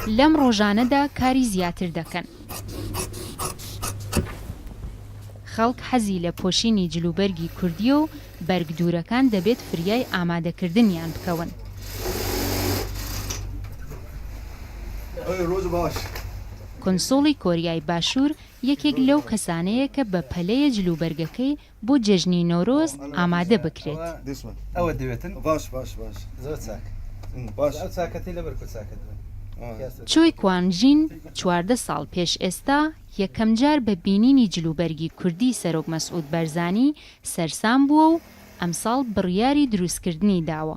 لەم ڕۆژانەدا کاری زیاتر دەکەن. خەڵک حەزی لە پۆشینی جلوبەرگی کوردییە و بەرگ دوورەکان دەبێت فریای ئامادەکردنیان بکەون. کونسوڵی کۆریای باشوور یەکێک لەو کەسانەیە کە بە پەلەیە جلوبەرگەکەی بۆ جێژنی نۆرۆز ئامادە بکرێت. چۆی کوان ژین چواردە ساڵ پێش ئێستا یەکەم جار بە بینینی جلوبەرگی کوردی سەرۆک مەسعود بەرزانی سەرسام بووە و ئەمساڵ بڕیاری دروستکردنی داوە.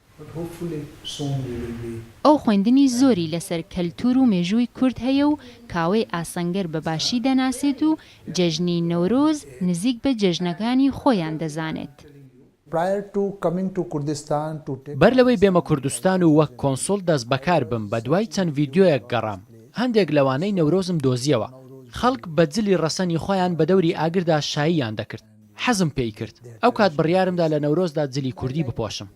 ئەو خوێندنی زۆری لەسەر کەلتوور و مێژووی کورد هەیە و کاوەی ئاسنگەر بە باشی دەناسێت و جێژنی نەورۆز نزیک بە جێژنەکانی خۆیان دەزانێت. بەر لەوەی بێمە کوردستان و وەک کۆنسوڵ دەست بەکار بم بە دوای چەند ڤیدیۆیەک گەڕام هەندێک لەوانەی نەورۆزم دۆزیەوە خەڵک بە جلی ڕەسەنی خۆیان بە دەوری ئاگردا شاییان دەکرد، حەزم پێی کرد ئەو کات بڕیارم دا لە نەورۆزدا جلی کوردی بپۆشم.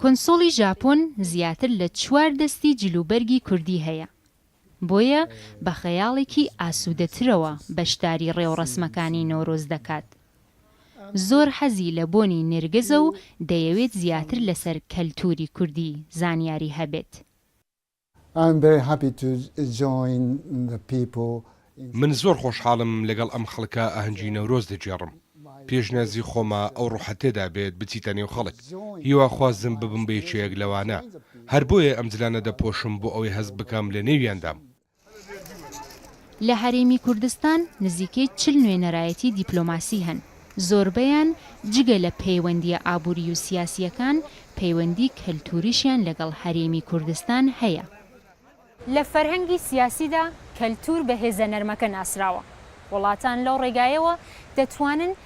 کونسوڵی ژاپۆن زیاتر لە چوار دەستی جل و بەرگی کوردی هەیە، بۆیە بە خەیاڵێکی ئاسوودەترەوە بەشداری ڕێوڕەسمەکانی نەورۆز دەکات. زۆر حەزی لە بۆنی نێرگزە و دەیەوێت زیاتر لەسەر کەلتووری کوردی زانیاری هەبێت. I'm very happy to join the people in من زۆر خۆشحاڵم لەگەڵ ئەم خەڵکە ئاهەنگی نەورۆز دەگێڕم پێشنیازی خۆمە ئەو ڕۆحە تێدا بێت بچیتە نێو خەڵک هیواخوازم ببم بە یەکێک لەوانە هەر بۆیە ئەم جلانە دەپۆشم بۆ ئەوەی هەست بکەم لە نێویاندام. لە هەرێمی کوردستان نزیکەی چل نوێنەرایەتی دیپلۆماسی هەن، زۆربەیان جگە لە پەیوەندییە ئابووری و سیاسییەکان، پەیوەندی کەلتووریشیان لەگەڵ هەرێمی کوردستان هەیە. لە فەرهەنگی سیاسیدا کەلتوور بە هێزە نەرمەکە ناسراوە. وڵاتان لەو ڕێگایەوە دەتوانن